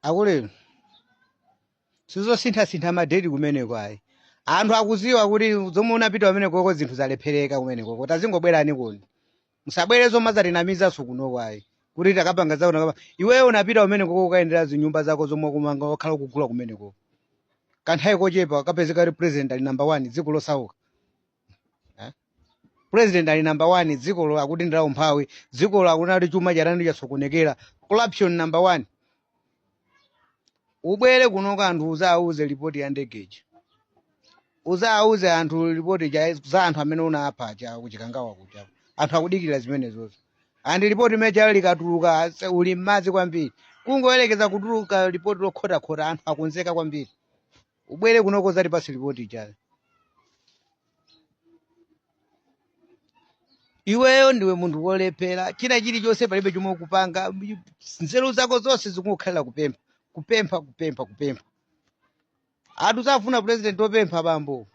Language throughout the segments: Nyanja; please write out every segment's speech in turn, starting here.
akulu sizosinthasintha madeti kumeneko ayi anthu akuziwa kuti zomwe unapita kumenekoko zinthu zalephereka kumenekoko tazingobwerani kuno musabwere zomazatinamizaso kunoko ayi kuti takapanga zawo takapanga iweyo unapita kumenekoko ukuyendera zinyumba zako zomwe ukumanga wakhala ukugula kumenekoko kanthawi kochepa kapezeka kuti president ali number one dziko losauka Eh? president ali number one dzikolo akuti ndi la umphawi dzikolo akunati chuma chatani chasokonekera corruption number one ubwere kuno anthu uzawauze lipoti ya ndegeji uzawauze anthu lipoti cha- za anthu amene unapha cha kuchikangawa kucha anthu akudikira zimenezozo andi lipoti imene lijalo likatuluka ase- uli mmadzi kwambiri kungoyerekeza kutuluka lipoti lokhotakhota anthu akonzeka kwambiri ubwere kunoko uzatipatse lipoti lijalo iweyo ndiwe munthu wolephera china chilichonse palibe chomwe ukupanga nzeru zako zonse zikungokhalira kupempha kupempha kupempha kupempha anthu safuna president opempha bambo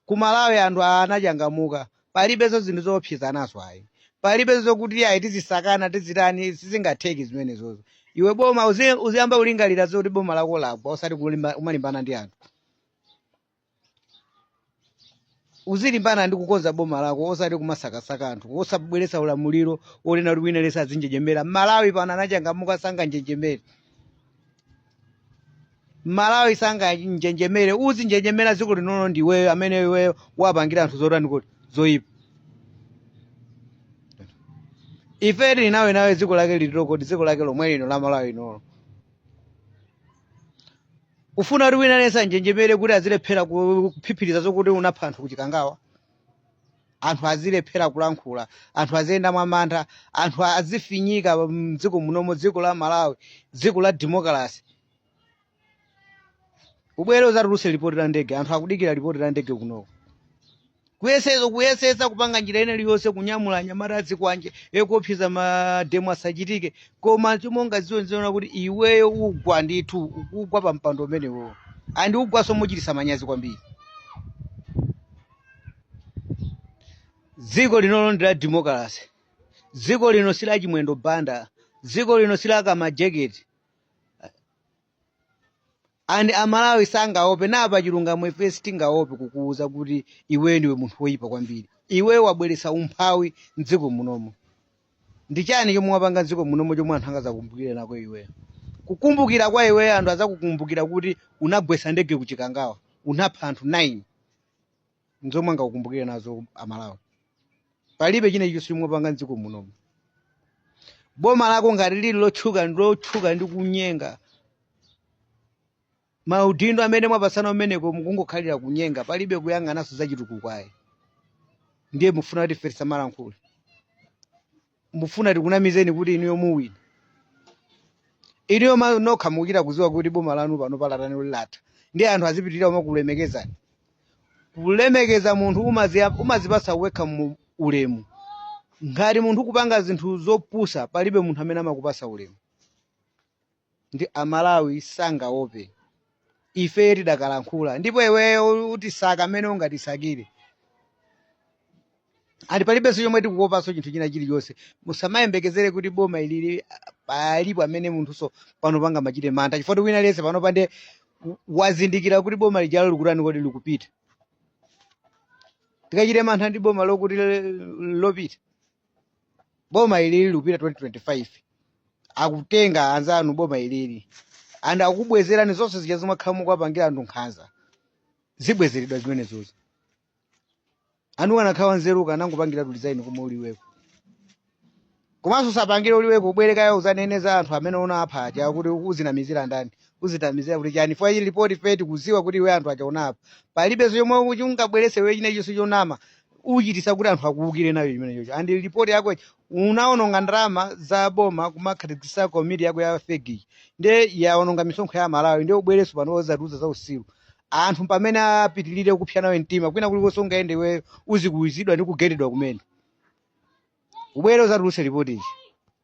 ku malawi anthu a- anachangamuka palibenso zinthu zoopsezanazo ayi palibenso zokuti ayi tizisakana tizitani sizingatheki zimenezozo iwe boma uzi- uziyamba kulingalira zoti boma lako lagwa osati kulimba- umalimbana ndi anthu uzilimbana ndi kukonza boma lako osati kumasakasaka anthu osabweretsa ulamuliro onena kuti wina aliyense azinjenjemera malawi pano anachangamuka sanganjenjemere malawi sanganjenjemere uzinjenjemera dziko linolo ndi iweyo amene iweyo wapangira anthu zotani kodi zoyipa ife tili nawe dziko lake liti kodi dziko lake lomwe lino la malawi linolo ufuna kuti wina aliyense anjenjemere kuti azilephera ku- kuphiphiriza zokuti unapha anthu kuchikangawa anthu azilephera kulankhula anthu aziyenda mwamantha anthu azifinyika mdziko munomo dziko la malawi dziko la demokalasi ubwere uzatuluse lipoti la ndege anthu akudikira lipoti la ndege kunoko kuyesesa kuyesesa kupanga njira ina iliyonse kunyamula anyamata azikwanje akuopseza mademo asachitike koma chimonga ziwo ziona kuti iweyo ugwa ndithu ukugwa pa mpando umenewo andi ugwaso mochitisa manyazi kwambiri dziko linolo ndi la demokalase dziko lino si la chimwendo banda dziko lino si la kamajaketi andi amalawi sangaope napa chilungamo ife sitingaope kukuuza kuti iwe ndiwe munthu woyipa kwambiri iwe wabweretsa umphawi mdziko munomo ndi chani chomwe wapanga mdziko munomo chomwe anthu angazakumbukire nako iweyo kukumbukira kwa iweyo anthu azakukumbukira kuti unagwetsa ndege kuchikangawa unapha anthu 9 nzomwe angakukumbukire nazo amalawi palibe china chilichonse chomwe wapanga mdziko munomu boma lako ngati lili lotchuka ndi lotchuka ndi kunyenga maudindo amene mwapasana umeneko mukungokhalira kunyenga palibe kuyang'ananso zachitukuko ayi ndiye mufuna kuti ife tisamalankhule mufuna tikunamizeni kuti inuyo muwina inuyo ma- nokha mukuchita kuziwa kuti boma lanu panopa latani latha ndiye anthu azipitirira kumakulemekezani kulemekeza munthu umaziya- umazipasa wekha mu ulemu ngati munthu kupanga zinthu zopusa palibe munthu amene amakupasa ulemu ndi a Malawi sangaope. Ifeyo tidakalankhula ndipo iweyo utisaka mmene ungatisakire. And palibenso chomwe tikuopanso chinthu china chilichonse. Musamayembekezere kuti boma ilili palipo amene munthunso panopa angamachite mantha chifukwa wina aliyense panopa nde wazindikira kuti boma lijalo likutani kodi likupita. Tikachite mantha ndi boma lokuti lopita. boma ilili likupita 2025 akutenga anzanu boma ilili and akubwezerani zonse zija zomwe akhala mukuwapangira anthu nkhanza zibwezeredwa zimenezozo anu ukanakhala wanzeru ukanangopangira kulizaini komwe uliweko komanso usapangire uliweko ubwerekayo uzanene za anthu amene unapha aja kuti uzinamizira ndani uzinamizira kuti chani fwa ili ripoti ife tikuziwa kuti iwe anthu aja unapha palibenso chomwe ungabwerese iwe china chonse chonama uchitisa kuti anthu akuwukire nacho chimenechocho and report yako unaononga ndalama za boma kumakhazikisa komiti yako ya fake nde yaononga misonkho ya amalawi nde ubwereso pano uzatiuza za usiru anthu pamene apitirire kupsa nawe mtima kwina kulikonse ungayende iwe uzikuwizidwa ndi kugendedwa kumene ubwere uzatuluse ripoti ichi